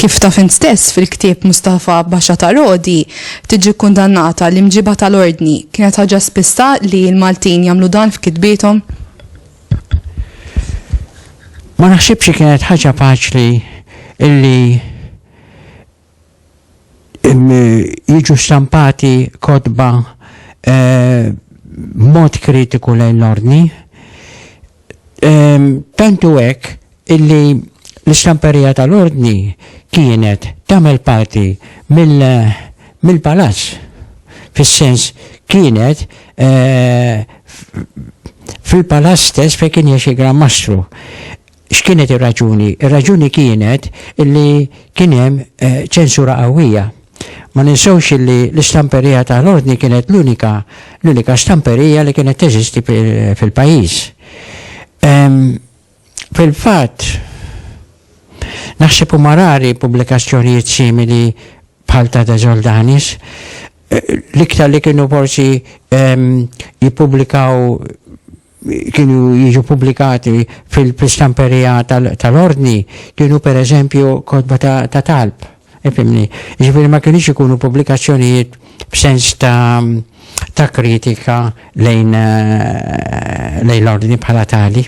Kif ta' fin stess fil-ktieb Mustafa Baxa ta' Rodi, tiġi kundannata l-imġiba tal-ordni, kienet ħaġa spista li l-Maltin jagħmlu dan f'kitbietom? Ma naħsibx kienet ħaġa faċli illi jiġu stampati kotba b'mod kritiku lejn l-Ordni, tant hu hekk illi l-istamperija tal-Ordni kienet tagħmel parti mill-Palazz, fis-sens kienet fil-Palazz stess fejn kien jgħix il-Gran Mastru. X'kienet ir-raġuni? Ir-raġuni kienet li kien hemm ċensura qawwija. Ma ninsewx li l-istamperija ta' l-Ordni kienet l-unika l-unika stamperija li kienet teżisti fil-pajjiż. Fil-fatt, naħseb huma rari pubblikazzjonijiet simili bħal ta' De Soldanis, l-iktar li kienu forsi jippubblikaw kienu jiġu pubblikati fil-stamperija tal-ordni kienu per eżempju kotba ta' talb. Ifimni, ġifiri ma kienx ikunu pubblikazzjonijiet b'sens ta' kritika lejn eh, l-ordni bħala tali.